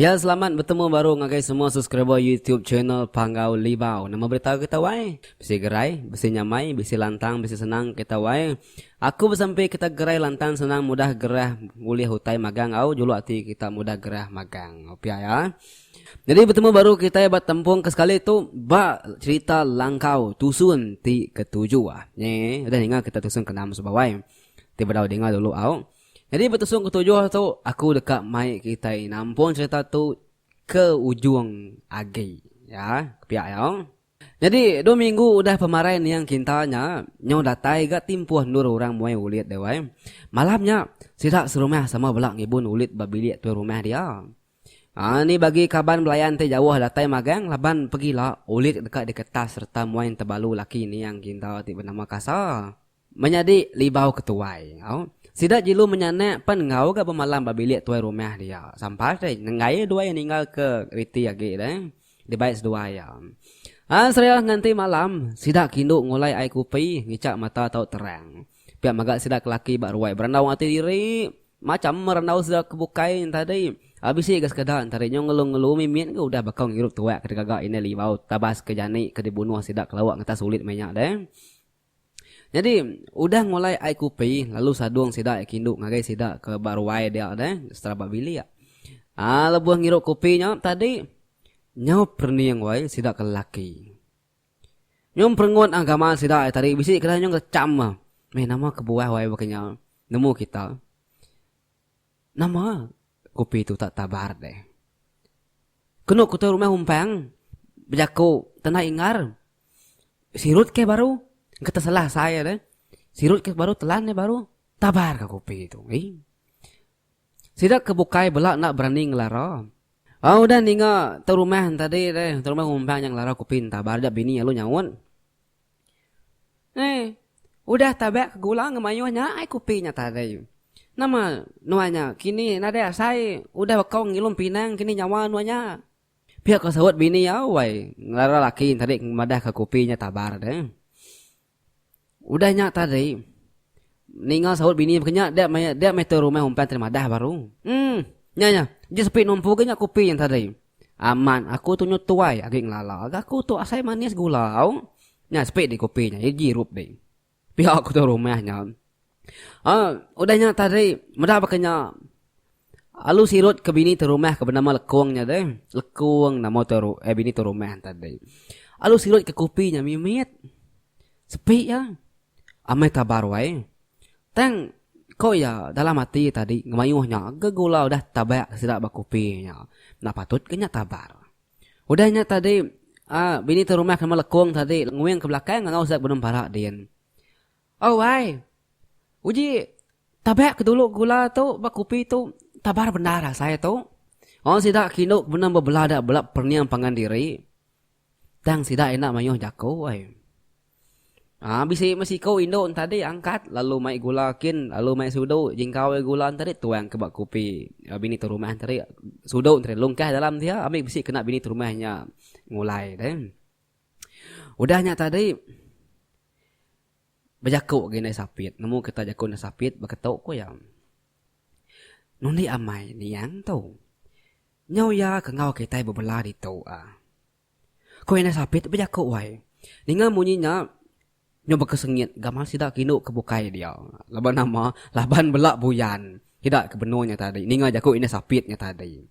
Ya selamat betemu baru ngagai semua subscriber YouTube channel Panggau Libau. Nama berita kita wai? Bisi gerai, bisi nyamai, bisi lantang, bisi senang kita wai. Aku besampi kita gerai lantang senang mudah gerah ulih utai magang au julu ati kita mudah gerah magang pia ya. Nyadi betemu baru kitai ba tempung ke sekali tu ba cerita langkau tusun ti ketuju ah. Nyi udah ninga kita tusun ke enam sebawai ti bedau dinga dulu au. Nyadi ba tusun ketujuh tu aku deka mai kitai nampung cerita tu ke ujung agi ya pia ya. Nyadi, dua minggu udah pemarai niang kinta nya nyau datai ga timpuh endur orang muai ulit deh wai. Malam nya, sida serumah sama bela ngibun ulit ba bilik tuai rumah dia. Aa ni bagi kaban belayan ti jauh datai magang laban pegila ulit deka diketas sereta muai entebalu laki niang kinta ti benama Kasa. Menyadi libau ke tuai enggau. Sida jelu menyanak pan enggau ga bemalam ba bilik tuai rumah dia. Sampai deh nenggai iya dua iya ninggal ke riti agi deh. Dibai seduai iya. Ai serah nganti malam, sida kindu ngulai ai kupi ngichak mata tau terang. Pia mega sida ke laki ba ruai berandau ati diri. Macham randau sida ke bukai entadi. Ai bisi ga sekeda entadi nyau ngelu-ngelu mimit ga udah bakau ngirup tuak ke digaga indai libau tabas ke jani ke dibunuh sida ke lauk ngetas ulit meh nya deh. Nyadi, udah ngulai ai kupi, lalu sadung sida yak kindu ngagai sida ke ba ruai dia deh, setara ba bilik. Aa lebuh ngirup kupi nya tadi, nyau perening wai sida ke lelaki. Nyum perengut aa gamal sida ai tadi, bisi ke dai nyung ngecham, meh nama kebuah wai baka nya nemu kita. Nama kopi tu tak tabar deh. Kenu ku tu rumah umpang bejaku tanah ingar sirut ke baru engka tesalah sai deh. Sirut ke baru telan deh baru tabar ka kopi tu. Ih. Sida ke bukai bela enda berani ngelara. Ba udah ninga tu rumah tadi deh, tu rumah umpang nya ngelara kopi entabar ja bini alu nyaut. Hei, udah tabak ke gula enggau mayuh nya ai kopi nya tadi. Nama nuan nya kini nadai asai udah baka ngilum pinang kini nyawa nuan nya. Pia ko saut bini iya wai ngelara laki iya tadi ke madah ka kopi nya tabar deh. Udah nya tadi ninga saut bini baka nya dia dia meh tu rumah umpan tadi madah baru. Em nya nya, nya sepi numpu agi nya kopi nya tadi. Amat aku tu nyu tuai agi ngelala ga aku tu asai manis gula au. Nya sepi di kopi nya igi rup ding. Pia aku tu rumah nya. Ah, udah nya tadi meda baka nya Alu sirut ke bini tu rumah ke benama Lekong nya deh. Lekong nama tu ru, eh, bini tu rumah tadi. Alu sirut ke kopi nya mimit. Sepi ya. Amai tabar wai. Tang, ko iya dalam ati iya tadi ngemayuh nya ke gula udah tabak sida ba kopi nya. Enda patut ke nya tabar. Udah nya tadi uhh bini tu rumah nama Lekong tadi nguing ke belakang enggau sida benung parak din. Au ai, uji tabak ke dulu gula tu ba kopi tu tabar bendar asai tu. Wang sida ke indu ke benung bebela da bela pening pangan diri. Tang sida enda mayuh jaku ai. Ha, bisi meh siku indu entadi angkat lalu mai gula kin lalu mai sudu jingkau ai gula entadi tuang ke ba kupi eh, bini tu rumah entadi sudu entadi lungkah dalam dia ambil bisi kena bini tu rumah nya ngulai deh. Udah nya tadi bejaku gi ndai sapit nemu kita jaku ndai sapit beketu ku iya. Nundi amai niang tu. Nyau iya ke enggau kitai bebela ditu a. Ku Indai Sapit bejaku wai. Ninga munyi nya nyau bekesengit gamal sida ke indu ke bukai dia. Laban nama? Laban bela buyan sida ke benung nya tadi ninga jaku Indai Sapit nya tadi.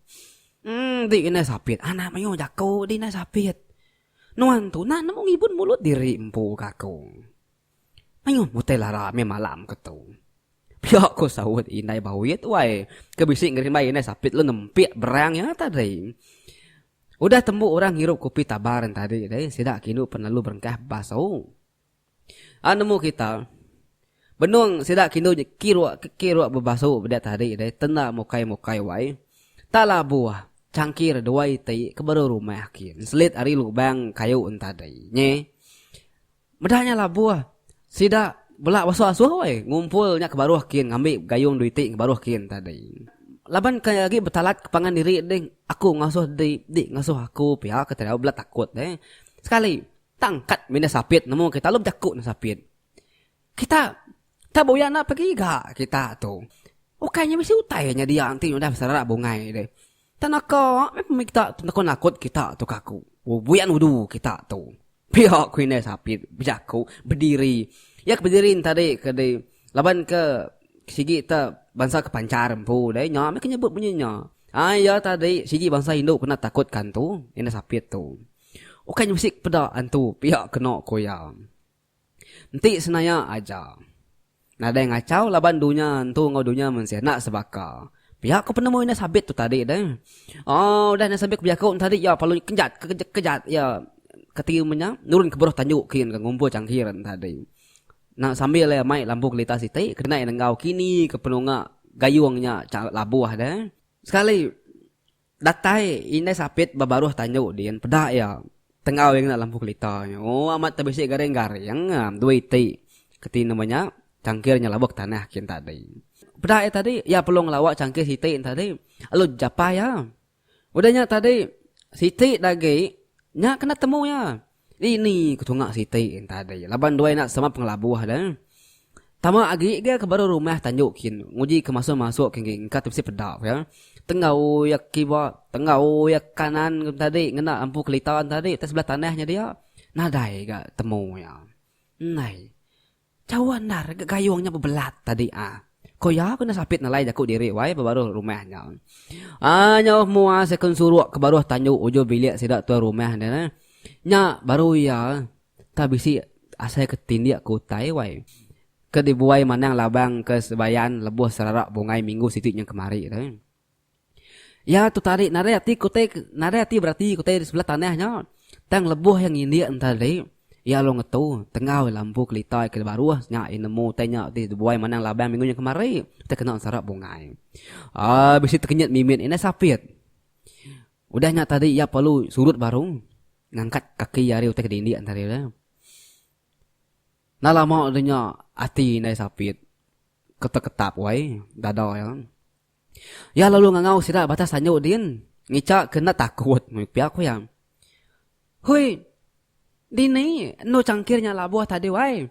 Enti Indai Sapit anak mayuh jaku di Indai Sapit. Nuan tu nah nemu ngibun mulut diri empu ka aku. Mayuh utai lara meh malam ke tu. Pia ku saut indai Bawit wai ke bisi ngerimbai indai Sapit lalu nempik berang iya tadi. Udah tembu orang ngirup kopi tabar nya tadi deh sida kinu pen lalu berengkah bas tu. Au nemu kita benung sida kinu nya kiruk ke kiruk bebasu peda tadi deh tenda mukai mukai wai tak labuh cangkir dua iti ke baru rumah kin selit ari lubang kayu nya tadi. Nyi. Meda nya labuh, sida bela beasuh-asuh wai ngumpul nya ke baruh kin ngambi gayung dua iti ke baruh kin tadi. Laban ke agi betalat ke pangan diri ding, Aku ngasuh di, di ngasuh aku pia ke Tariau bela takut deh. Sekali, tang kad mindah sapit nemu kita lalu bejaku nang sapit. Kita tak buya enda pagi ga kita tu. Ukai nya bisi utai nya dia enti udah besara bungai deh. Tang naka meh pemik kita tu naka nakut kita tu ka aku. Buyan udu kita tu. Pia ku indai Sapit bejaku bediri. Iya ke bediri entadi ke di laban ke sigi te bansa ke panchar empu deh nya meh ke nyebut bunyi nya. Ai iya tadi sigi bansa indu kena takut ka antu, indai Sapit tu. Ukai nyebesik peda antu pia keno ku iya. Enti senaya aja. Nadai ngachau laban dunya entu enggau dunya mensia enda sebaka. Pia ko penemu indah sabit tu tadi deh. Oh udah indah sabit bejaku tu tadi ya palu kejat kejat ya keti menya nurun ke beruh tanju kin ke ngumpul cangkir tu tadi. Na sambil ya mai lampu kelita siti kena ya nenggau kini ke penunga gayung nya cha labuh deh. Sekali. Datai indai sapit ba baruh tandu din peda iya. Tengau iya ngena lampu kelita nya. O amat te bisi garing-garing am dua iti. Keti nama nya? Changkir nya labuk tanah kin tadi. Peda iya tadi, iya perlu ngelawa changkir siti nya tadi lalu japai iya. Udah nya tadi siti da agi nya kena temu iya. Ni ni ku tunga siti entadi laban duai enda sama pengelabuh da. Tama agi ga ke baru rumah tanju kin nguji ke masuk masuk kin gi engka ti bisi peda ku iya. Tenggau iya kiba tenggau iya kanan ku entadi ngena lampu kelita entadi utai sebelah tanah nya dia nadai ga temu iya. Nai. Cawa endar ga gayung nya bebelat tadi ah. Ko iya kena sapit nelai jaku diri wai ba baruh rumah nya. Ai nyauh mua sekun suruk ke baruh tandu ujung bilik sida tuai rumah nya neh. Nya baru iya tah bisi asai ke tindik ke utai wai. Ke dibuai manang labang ke sebayan lebuh serarak bungai minggu siti nyeng kemari tu. Iya tu tadi nadai ati ku utai nadai ati berati ku utai di sebelah tanah nya. Tang lebuh iya ngindik enti tadi, iya lalu ngetu tengau lampu kelita iya ke di baruh nya iya nemu utai nya ti bebuai manang laban minggu nya kemari ti kena sarap bungai. Aaa bisi tekenyit mimit indai sapit. Udah nya tadi iya perlu surut baru ngangkat kaki iya ari utai ke dindik enti hari tu. Enda lama nya ati indai sapit keteketap wai dada iya. Iya lalu ngangau sida batas tanyu din ngica ke enda takut meh pia ku iya. Hui, dini endu cangkir nya labuh tadi wai?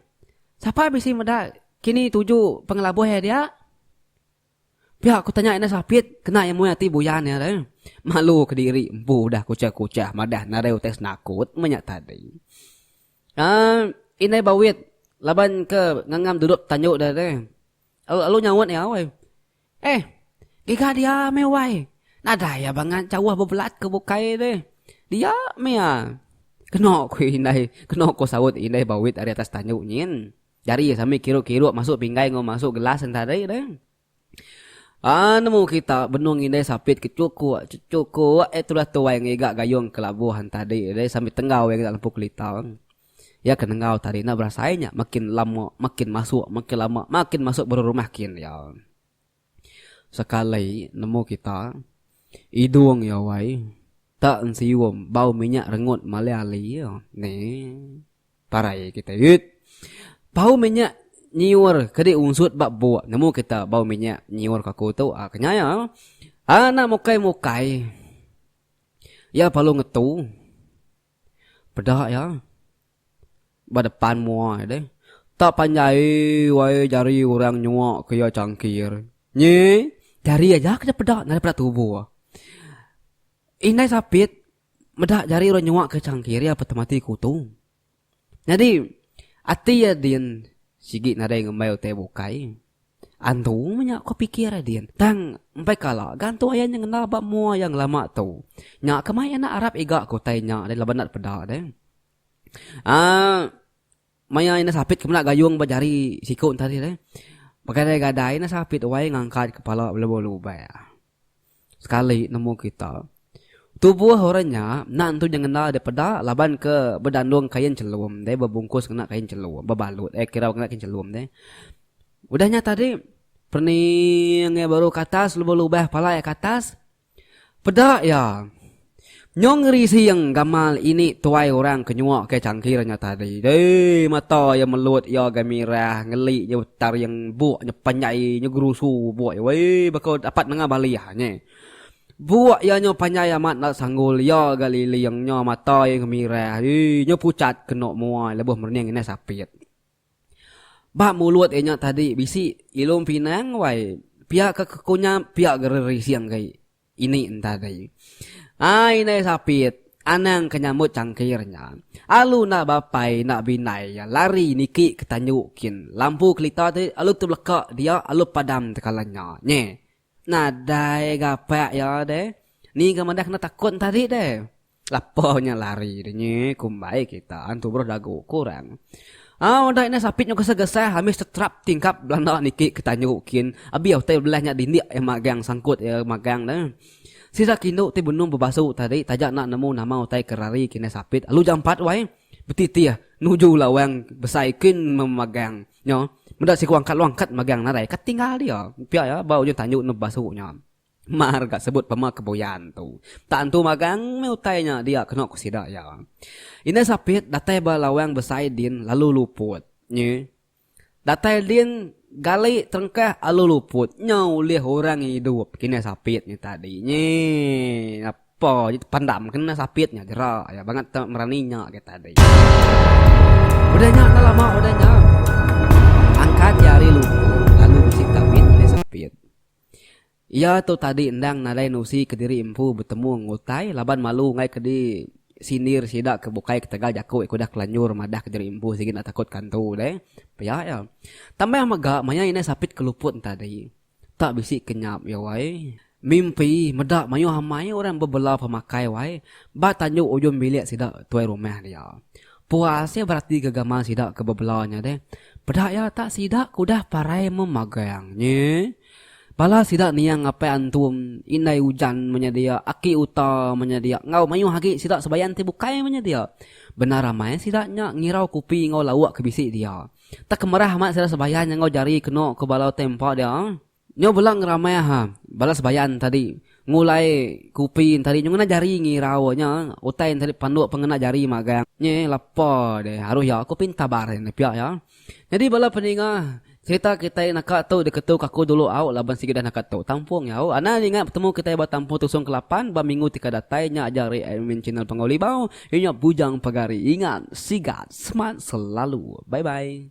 Sapa bisi meda kini tuju pengelabuh iya dia? Pia ku tanya indah Sapit kena iya muai ati buyan iya re. Malu kediri empu udah kuchah-kuchah madah nadai utai senakut meh nya tadi. Ai, indai Bawit laban ke ngangam duduk tanyu dia re. Lalu nyaut iya, Wai. Eh, giga dia meh, Wai. Nadai iya bangat jauh bebelat ke bukai ti. Dia meh iya. Keno ku indai, keno ku saut indai Bawit ari atas tandu nyin. Jari iya sambil kiruk-kiruk masuk pinggai enggau masuk gelas sentari deh. Ah, nemu kita benung indai sapit ke chukuk, chukuk eh tulah tu Wai ngiga gayung ke labuh entadi deh sambil tenggau iya ke dalam lempu kelita. Iya ke nenggau tadi enda berasai nya makin lama makin masuk makin lama makin masuk berurumah kin iya. Sekali nemu kita idung iya wai tak ensium bau minyak rengut malai ali iya ni parai kita it. Bau minyak nyiur kedi unsut ba buk nemu kita bau minyak nyiur ka aku tu a kenya iya. Anak mukai-mukai iya palu ngetu. Peda iya ba depan mua iya deh. Tak panjai wai jari orang nyua ke iya changkir. Nyi, jari aja ke peda nadai peda tubo. Indai Sapit meda jari orang nyua ke changkir iya patut mati kuto. Nyadi ati iya din sigi nadai ngembai utai bukai. Antu nya ko pikir Adin. Tang empai kala gantung ayan nya ngenal ba mua iya ngelama tu. Nya ke mai anak arap iga ko utai nya deh laban nda depeda deh. Aa maya enda sapit ke meda gayung ba jari siku ntadi deh. Begadai-gadai enda sapit wai ngangkat kepala belubak-lubak. Sekali nemu kita. Tubuh orang nya enda nentu nya ngena deh peda laban ke bedandung kain chelum deh bebungkus ngena kain chelum bebalut eh kira ngena kain chelum deh. Udah nya tadi pening iya baru ke atas lebuh lubah pala iya ke atas peda iya. Nyong ngerising gamal ini tuai orang ke nyuak ke cangkir nya tadi. Dei mata iya melut iya ga mirah ngeli nya betaring buk nya panjai nya gerusu buk iya wei baka dapat nengah balih nya. Buk iya nya panjai amat enda sanggul iya ga liling nya mata iya ga mirah yee nya pucat kenu mua iya lebuh merening indah sapit. Ba mulut iya nya tadi bisi ilung pinang wai pia ka kekunyap pia ga rerising gai. Ini entari. Ai indai sapit, anang ke nyambut cangkir nya. Alu enda bapai enda bindai iya lari niki ke tanju kin. Lampu kelita ti alu tebeleka dia alu padam tekala nya. Nye. Nadai gapak iya deh. Ni ga madah kena takut entari deh. Lapa nya lari deh nyi kumbai kita an tubuh dagu kurang. Au udah ina sapit nyu gesah-gesah ambis tetrap tingkap belanda niki ke tanju kin abi utai belah nya dindik iya magang sangkut iya magang deh. Sida kindu ti benung bebasu tadi taja enda nemu nama utai ke rari kina sapit alu jampat wai betitih nuju lawang besai kin memagang nyo meda siku angkat lawang angkat magang nadai ka tinggal dia pia iya ba ujung tanju enda bebasu nya. Mar ga sebut pema ke buyan tu. Tak entu magang meh utai nya dia keno ku sida iya. Indai Sapit datai ba lawang besai din lalu luput. Nyi. Datai din gali terengkah alu luput nya ulih orang idup ke indai Sapit nya tadi. Nyi apo ji tepandam ke indai Sapit nya jera iya bangat tau merani nya agi tadi. Udah nya enda lama udah nya angkat iya ari luput lalu bisi tawit indai Sapit. Iya tu tadi endang nadai nusi kediri empu betemu enggau utai laban malu enggai ke di sindir sida ke bukai ketegal jaku iya ke udah kelanjur madah kediri empu sigi enda takut kantu deh pia iya. Tambah mega maya indai Sapit ke luput entadi tak bisi ke nyap iya wai. Mimpi meda mayuh amai orang bebela pemakai wai ba tandu ujung bilik sida tuai rumah dia. Puas iya berati ga gamal sida ke bebela nya deh. Peda iya tak sida ke udah parai memagang nyi. Bala sida niang apai antum, indai ujan meh nya dia, aki uta meh nya dia enggau mayuh agi sida sebayan ti bukai meh nya dia. Bendar amai sida nya ngirau kupi enggau lauk ke bisi dia. Teka merah amat sida sebayan nya enggau jari kenu ke bala utai empa dia. Nyau bela ngeramai aha bala sebayan tadi ngulai kupi tadi nyu ngena jari ngirau nya utai tadi panduk pengena jari magang nyi lepa deh aruh ya kupi entabar enda pia ya nyadi bala peninga serita kitai naka tu diketu kaku dulu au laban sigi dah naka tu tampung ya au anang ninga betemu kitai ba tampung tusong ke lapan ba minggu ti ka datai nya aja ari admin channel pengawa libau iya nya bujang pagari ingat sigat semat selalu bye bye.